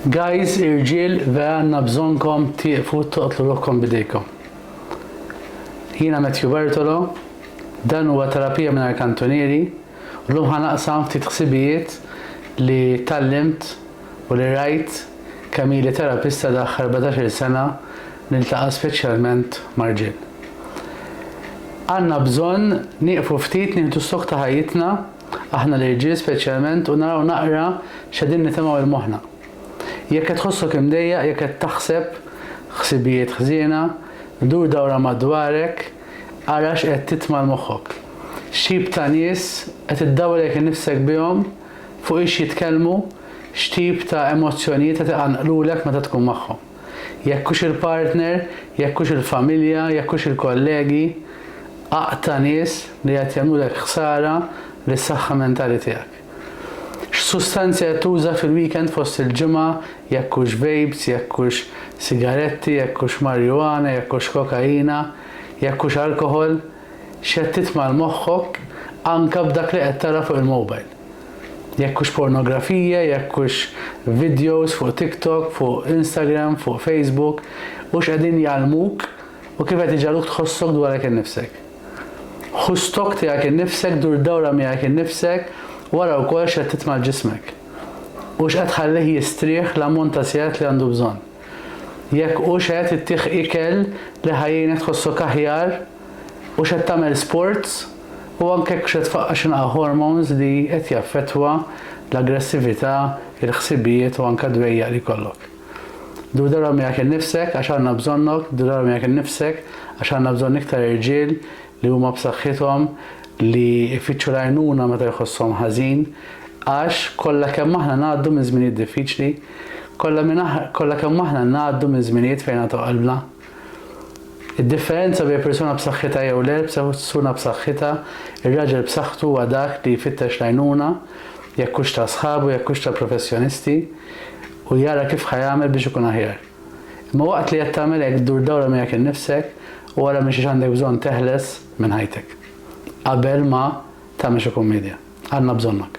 Guys irġiel vera għandna bżonnkom tieqfu toqtlu ruħkom b'idejkom. Jiena Matthew Bartolo, dan huwa Terapija Mingħajr Kantunieri u llum ħa naqsam ftit ħsibijiet li tgħallimt u li rajt kemm ili terapista daħħ 14-il sena niltaqa' speċjalment ma' rġiel. Għandna bżonn nieqfu ftit nieħdu stock ta' ħajjitna Aħna l-irġiel speċjalment u naraw naqra x'qegħdin nitemgħu il moħħna. Jekk qed tħossok imdejjaq, jekk qed taħseb ħsibijiet ħżiena, dur dawra madwarek, ara x'qed titma' l moħħok. X'tip ta' nies qed iddawrek innifsek bihom, fuq ix jitkellmu, x'tip ta' emozzjonijiet qed iqanqlulek meta tkun magħhom. Jekk hux il-partner, jekk hux il-familja, jekk hux il-kollegi, aqta' nies li qed jagħmlulek ħsara lis-saħħa mentali tiegħek. X'sustanzi qed tuża fil-weekend fost il-ġimgħa, jekk hux vapes, jekk hux sigaretti, jekk hux marijuana, jekk hux kokaina, jekk hux alkoħol, X'qed titmgħar moħħok anke b'dak li qed tara fuq il-mobile. Jekk hux pornografija, jekk hux videos fuq TikTok, fuq Instagram, fuq Facebook, hux qegħdin jgħallmuk u kif qed iġagħluk tħossok dwarek innifsek. Ħu stock tiegħek innifsek, dur dawra miegħek innifsek u ara wkoll x'qed titmgħar ġismek. Hux qed tħallih jistrieħ l-ammont ta' sigħat li għandu bżonn. Jekk hux qed ittih ikel li ħa jgħinek tħossok aħjar, hux qed tagħmel sports u anke hekk hux qed tfaqqa' x'inqa'a' hormones li qed jaffettwa l-aggressività, il-ħsibijiet u anke d-dwejjaq li jkollok. Dur darba miegħek innifsek għax għandna bżonnok, dur darba miegħek innifsek għax għandna bżonn iktar irġiel li huma b'saħħithom, li jfittxu l-għajnuna meta jħosshom ħażin, għax kollha kemm aħna ngħaddu minn żminijiet diffiċli, kollha minn kollha kemm aħna ngħaddu minn żminijiet fejn għatgħu qalbna. Id-differenza bejn persuna b'saħħitha jew le, b'sewsuna b'saħħitha, ir-raġel b'saħħtu huwa dak li jfittex l-għajnuna, jekk hux ta' sħabu, jekk hux ta' professjonisti, u jara kif ħa jagħmel biex ikun aħjar. Imma waqt li qed tagħmel hekk ddur dawra miegħek innifsek u ara minn xiex għandek bżonn teħles minn ħajtek. Qabel ma tagħmel xi kummedja. Għandna bżonnok.